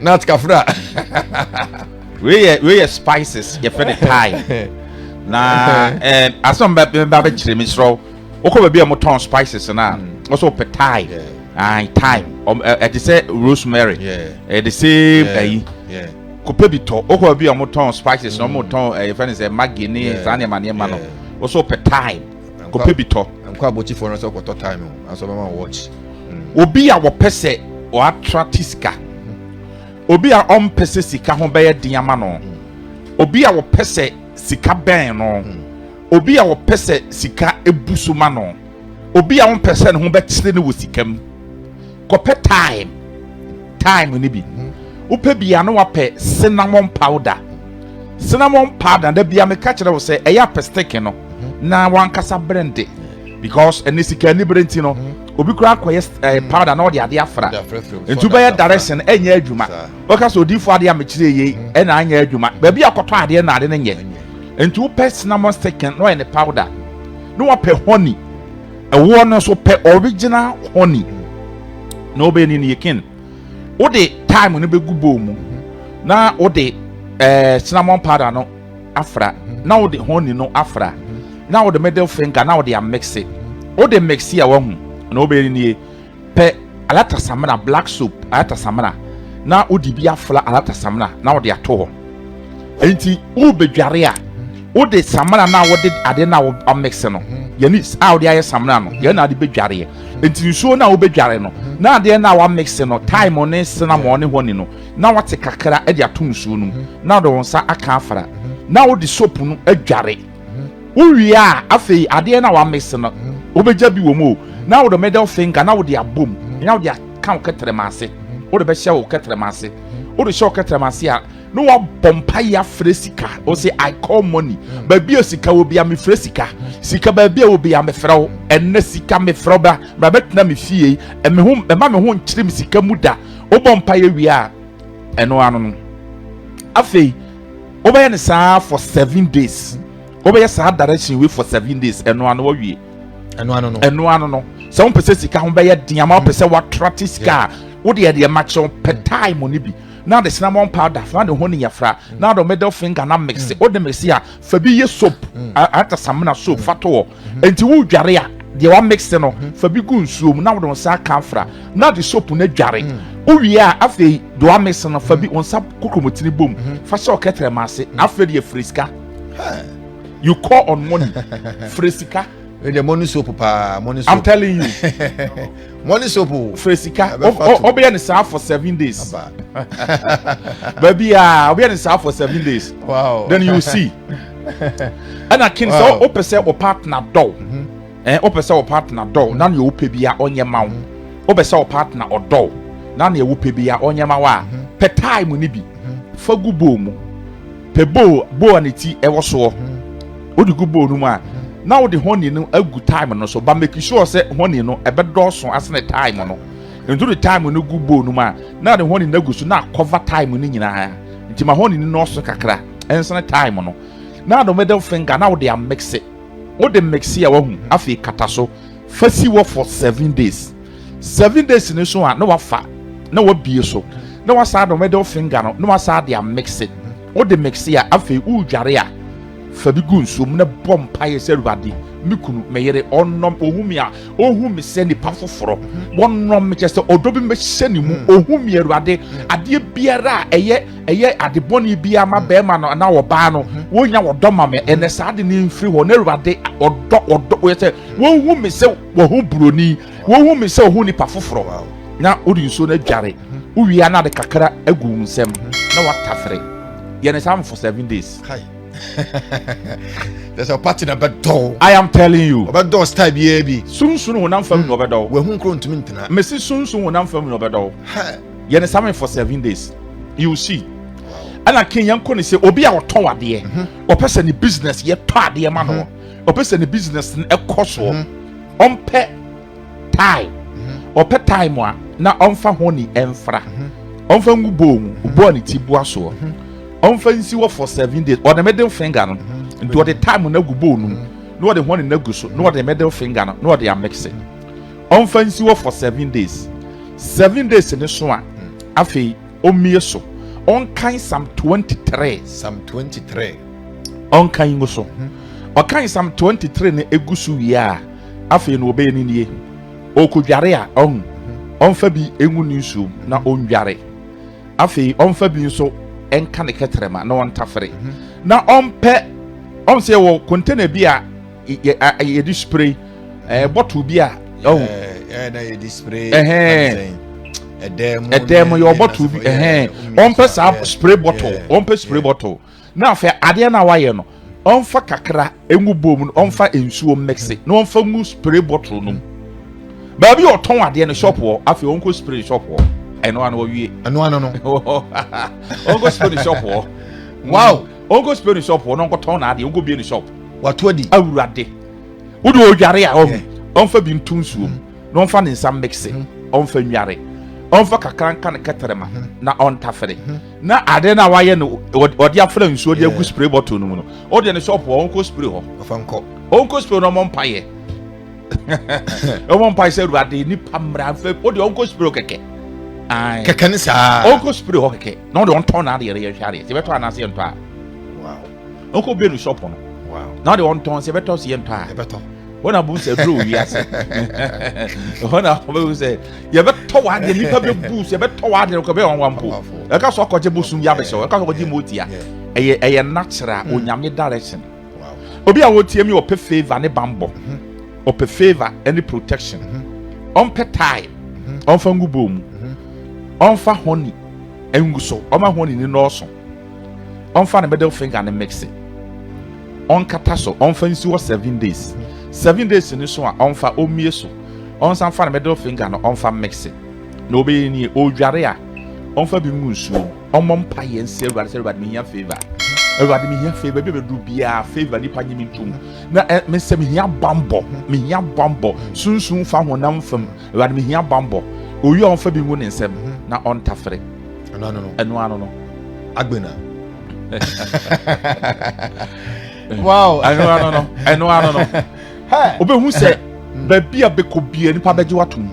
nut kafra wei yɛ wei yɛ spices yɛfrɛ no thyme na ɛɛ asɛm bɛ bɛ bɛ kyerɛ mi srɔ wokɔ baabi a wɔtɔn spices no a wɔsɔ pɛ thyme ayi thyme ɔm ɛ ɛte sɛ rosemary ɛde same ɛyi kɔpɛ bi tɔ wokɔ baabi a wɔtɔn spices na wɔtɔn ɛyɛ fɛn sɛ maggi ne saa nneɛma nneɛma no wɔsɔ pɛ thyme. kɔpɛ bi tɔ. nkɔ abotifoɔ no sɛ kɔtɔ time o nanso ɔbɛma watch. Mm. obi a wɔpɛ sɛ ɔatra te sika mm. obi a ɔmpɛ sɛ sika ho bɛyɛ den ama no mm. obi a wɔpɛ sɛ sika bɛn no obi a wɔpɛ sɛ sika ebu so ma no obi a wɔmpɛ sɛ ne ho bɛkyerɛ no wɔ sika mu. Kɔpɛ thyme, thyme no bi. Wopɛ bi a na wapɛ cinnamon powder. Cinnamon powder da bia meka kyerɛ wo sɛ ɛyɛ apɛ stick no na wankasa brende because ɛne sika ni bere nti no obi kura akɔyɛ eh, powder na ɔde ade afra nti wobɛyɛ direction ɛnyɛ adwuma wɔka sɛ odiifo adeɛ a mekyerɛ yei ɛna anyɛ adwuma baabi akɔtɔ adeɛ na ade no nyɛ nti wopɛ cinnamon stick na ɔyɛ ne powder na wapɛ honey ɛwoɔ no nso pɛ original honey na wobɛni no yɛkin wode time no bɛgu bowl mu na wode ɛɛ eh, cinnamon powder no afra na wode honey no afra na wode middle finger na wode amix wode mix a wahu na wobɛni no yɛ Pɛ alata samina, black soap, alata samina, na wode bi afra alata samina na wode ato hɔ. Enti wobɛdware a, wode samina no a wode ade no a wɔamekse no, yɛne a wode ayɛ samina no, yɛn na ade bɛdwareɛ. Enti nsuo no a wobɛdware no, na adeɛ no a wɔamekse no, thyme ne cinnamon ne honey no, na wate kakra de ato nsuo no mu, na wode wo nsa aka afra, na wode soap no adware. Wowie a, afei adeɛ no a woamese no, wobɛgya bi wɔ mu o, na wode middle finger na wode abɔ mu, na wode aka wo kɛtrɛma ase, wode bɛhyɛ wo kɛtrɛma ase. Wode hyɛ wo kɛtrɛma ase a, na woabɔ mpaeɛ afrɛ sika. Wo se, I call money. Baabi a sika wɔ bia, mefrɛ sika. Sika baabi a wɔ bia, mefrɛ wo. Ɛnnɛ sika mefrɛ wo bra, bra bɛtena me fie. Me ho, mɛma me ho nkyere me sika mu da. Wobɔ mpaeɛ wie a, ɛno ano no, afei, Wobɛyɛ no saa for seven days. Wobɛyɛ saa direction wei for seven days. Ɛno ano wawie. Ɛno ano no. Ɛno ano no. Sɛ wɔn pɛ sɛ sika ho bɛyɛ den ama wɔn pɛ sɛ wɔatra te sika a wode yɛ deɛ makyɛ wɔn pɛ mm. time ne bi. Na de cinnamon powder fana de ho ne yɛfra. Mm. Na de middle finger na mix. Mm. Wode mix a fa bi yɛ soap. Ata samina soap fa to hɔ. Enti wodware a, deɛ wamikse no, hmm. fa bi gu nsuo mu na wode wo nsa aka afra na de soap no dware. Hmm. Wowie a, afei deɛ wamikse no, fa bi wo nsa kokromotini bom, hmm. fa hyɛ ɔkɛtrɛ ma ase. Afei deɛ firi sika. You call on money. Firi sika. Ɛdeɛ mo ne soap paa, mo ne soap. I'm telling you. Money soap o. Oh. Fere sika. Ɔbɛyɛ ne saa for seven days. Baabi a ɔbɛyɛ ne saa for seven days. Wow. Then you see. Ɛna kin sɛ ɔpɛ sɛ ɔ partner dɔw. Ɛn ɔpɛ sɛ ɔ partner dɔw. Na nea ɔpɛ bi a ɔnyɛ ma wo. Ɔpɛ sɛ ɔ partner ɔdɔw. Na nea ɔpɛ bi a ɔnyɛ ma wo a. Pɛ time ni bi. Fa gu bowl mu. Pɛ bowl bowl a ne ti wɔ soɔ. Wode gu bowl no mu a, na wode honey no agu thyme no so. Ba make sure sɛ honey no ɛbɛdɔɔso asene thyme no. Nti wode thyme no gu bowl no mu a, na wode honey no agu so na akɔva thyme no nyinaa. Nti ma honey no nɔɔso kakra, ɛnsene thyme no. Na wode middle finger na wode amekse. Wode mekse a wahu, afei kata so. Fa si hɔ for seven days. Seven days ne so a na wafa na wabie so na wasan de middle finger no na wasan de amikse. Wode mikse a afei wodware a fa bi gu nsuom na bɔ mpaeɛ sɛ Awurade me kunu me yere ɔnnɔm ɔhu me a ɔhu me sɛ nipa foforɔ wɔnnɔm me kyɛ sɛ ɔdɔ bi mɛhyɛ ne mu mm. ɔhu me Awurade mm. adeɛ biara a ɛyɛ ɛyɛ ade bɔne biara ma mm. bɛrima no anaa ɔbaa no wɔnya wɔdɔ ma me ɛnɛ saa de ne mfiri hɔ na Awurade ɔdɔ ɔdɔ wɔyɛ sɛ wɔhu me sɛ wɔho buroni wɔhu me sɛ wɔho nipa foforɔ na wode nsuo no adware wowia na de kakra agu wo nsɛm na watafere yɛne saa no for seven days There's a party na bɛdɔw. I am telling you. Ɔbɛdɔw style biara bi. Sunsun honam fam na ɔbɛdɔw. Wɔhu nkuro ntumi ntena. Mesi sunsun honam fam na ɔbɛdɔw. Yɛne sami for seven days. You see. Ɛna kin yɛn kɔ ne sɛ obi a ɔtɔn adeɛ. Ɔpɛ sɛ ne business yɛ tɔ adeɛ ma no. ɔpɛ sɛ ne business no ɛkɔ soɔ mhm. ɔmpɛ time mhm. ɔpɛ time a na ɔmfa ho ne ɛmfra mhm. ɔmfa ngu bɔɔ mu bɔɔ ne ti boa soɔ ɔmfa nsi wɔ for seven days ɔde middle finger no nti ɔde time no agu bɔɔ no mu na ɔde ho ne no agu so na ɔde middle finger no na ɔde amekse ɔmfa nsi wɔ for seven days seven days ne so a afei Ɔmmue so. Ɔnkan Psalm 23. Psalm 23. Ɔnkan ngu so. Ɔkan Psalm 23 no egu so wie a, afei no ɔbɛyɛ ne nie. Ɔkɔdware a, ɔn, ɔmfa bi ngu ne nsuom na ɔndware. Afei ɔmfa bi nso nka ne kɛtrɛma na ɔntafere. Na ɔmpɛ, ɔn sɛ yɛwɔ container bi a yɛde spray ɛɛ eh, bottle bi a ɔho ɛɛ na yɛde spray ɛhɛn ɛdɛm mu yɛ bottle bi ɛhɛn wɔn pɛ saa spray bottle wɔn pɛ spray bottle na afɛ adeɛ na wayɛ no wɔn fa kakra engu bom no wɔn fa nsuo mɛkse na wɔn fa ngu spray bottle no mu baabi a ɔtɔn adeɛ no shop wɔ afɛ wɔn kɔ spray shop wɔ ɛno ano wɔwie ɛno ano no wɔn kɔ spray shop wɔ wow wɔn kɔ spray shop wɔ na wɔn kɔ tɔn na adeɛ wɔn kɔ bie ne shop. wato adi. awurade wode ɔdware a ɔho ɔmfa bi nto nsuom mm. na ɔmfa ne nsa mekse mm. ɔmfa nware ɔmfa kakra nka ne kɛtɛrɛma mm. na ɔntafere na ade no a wayɛ no ɔde afra nsuo de agu spray bottle no mu no ɔde ne sɔpo a ɔnkɔ spray hɔ ɔnkɔ spray no ɔmɔ mpayɛ ɔmɔ mpae sɛ awurade nipa mmara mfɛ ɔde ɔnkɔ spray kɛkɛ kɛkɛ ne saa ɔnkɔ spray hɔ kɛkɛ na ɔde ɔntɔn na adeɛ yɛhwɛ adeɛ sɛ bɛtɔ anaasɛ yɛntɔ a ɔkɔ bɛ no shop no na ɔde ɔntɔn sɛ ɛbɛtɔ so yɛ ntɔ a ɛbɛtɔ wɔn na bom sɛ duro wɔ wiase wɔn na wɔbɛbu sɛ yɛbɛtɔ wɔ adeɛ nipa bɛbu sɛ yɛbɛtɔ wɔ adeɛ kɔ bɛyɛ wɔn wa mpo ɛka so ɔkɔgye bosom yɛ abɛhyɛ ɛka so ɔkɔgye motia ɛyɛ ɛyɛ natural mm. onyame direction obi a wɔtie mi ɔpɛ favour ne bambɔ mm-hmm. ɔpɛ favour ne protection mm-hmm. ɔmpɛ tae mm-hmm. ɔmfa ngu bɔɔ mu ɔmfa honey ngu so ɔma honey ne nɔɔso ɔmfa ne middle finger ne mixe ɔnkata so ɔmfa nsi hɔ seven days seven days ne so a ɔmfa ɔmmie so ɔnsan fa ne middle finger no ɔmfa mixe na ɔbɛyɛ nie ɔredware a ɔmfa bi ngu nsuo mu ɔmmɔ mpa yɛ nsi awurade sɛ awurade mehia favor awurade mehia favor bi a bɛduru biara favor nipa nye me ntom na eh, mesɛ mehia bambɔ mehia bambɔ sunsun fa honam fam Awurade mehia bambɔ. Owi a ɔmfa bi ngu ne nsam na ɔntafere. Ɛno ano no. Ɛno ano no. Agbena. wow. Ɛno ano no. Ɛno ano no. Obehu sɛ baabi a bɛkɔ bia nipa bɛgye watom.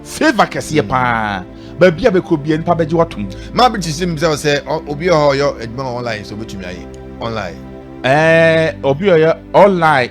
Favor kɛseɛ paa. Baabi a bɛkɔ bia nipa bɛgye watom. Maa bi ti si mi sɛ ɔsɛ obi a ɔyɔ adwuma online sɛ obetumi ayɛ online. Ɛɛ obi a ɔyɛ online.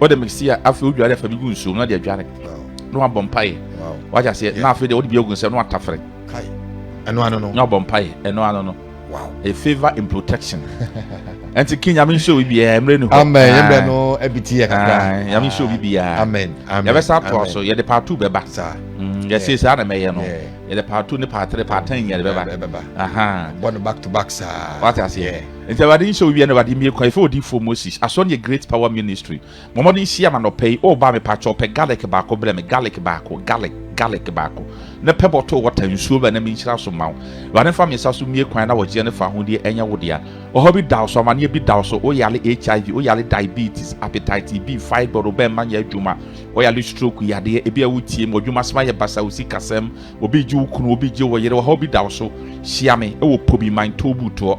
wode mixi a afei wodware afa bi gu nsuo mu na de adware na wabɔ mpaeɛ wagye aseɛ na afei deɛ wode bi agu nsɛm na watafere ɛno ano no na wabɔ mpaeɛ ɛno ano no a favor in protection ɛnti ki nyame nhyɛ obi biara mmerɛ ne hɔ amen yɛmmerɛ no abiti yɛ kakra nyame nhyɛ obi biara amen yɛbɛsa atoa so yɛde part two bɛba mm, yɛsei saa na mɛyɛ no yɛde part two ne part three part ten nyɛ de bɛba bɔ no back to back saa wate aseɛ Enti Awurade nhyɛ owia ne Awurade mmie kwan ɛfiri odiyifoɔ Moses aso ne yɛ Great Power Ministry. Bɔ mmɔden nhyiam anɔpa yi. Woba a, mepakyɛw pɛ garlic baako brɛ me, garlic baako, garlic, garlic baako, na pɛ bɔtol water, nsuo bɛ, na menhyira so mma wo. Awurade mfa me nsa so mmie kwan na ɔgyeɛ ne fawohodie ɛnyɛ wo dea. Ɔhaw bi da wo so, amaneɛ bi da wo so, woyare HIV, woyare diabetes, hepatitis B, fibroid, wo bɛmma nyɛ adwuma, woyare stroke yadeɛ, ebi a wotie mu, w'adwuma asɛm ayɛ basa, wo sikasɛm, obi regye wo kunu, obi regye wo yere, ɔhaw bi da wo so, hyia me wɔ Pobi Mantɔw Butoɔ.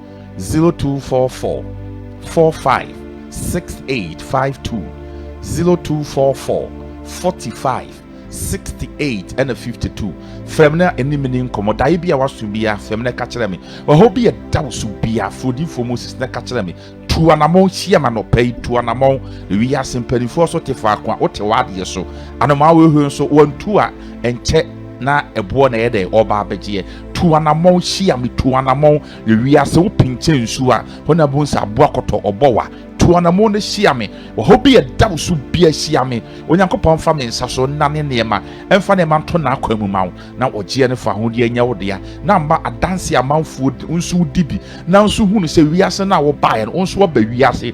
zero two four four four five six eight five two zero two four four forty five sixty eight ɛna fifty two fɛm na anim ne nkɔmɔ daeɛ bi a waso bia fɛm na ɛka kyerɛ me ɔhɔ bi ɛda wo so bia furodifoɔ moses na ɛka kyerɛ me tu anamɔn hyia ma nɔpɛ yi tu anamɔn ewi ase mpanimfoɔ so te faako a wote w'adeɛ so anomaa wɔhwɛ nso wɔntu a ɛnkyɛ na ɛboɔ na ɛyɛ dɛ ɔba abɛgyeɛ Tu anamɔn, hyia me, tu anamɔn, Yɛ wiase wo pinkyɛ nsu a, Hɔ na bohu sɛ aboa kɔtɔ ɔbɔ wa. Tu anamon na hyia me, Wɔ hɔ bi ɛda wo so bia hyia me, Onyankopɔn mfa me nsa so nnane nneɛma, Ɛmfa nneɛma nto n'akwan mu ma wo, Na ɔgyeɛ no fa ahodeɛ nyɛ wo dea, Na mma adanseɛ a amanfoɔ di, wo nso wodi bi, Nanso hunu sɛ wiase no a wobaeɛ no, wo nso woaba wiase.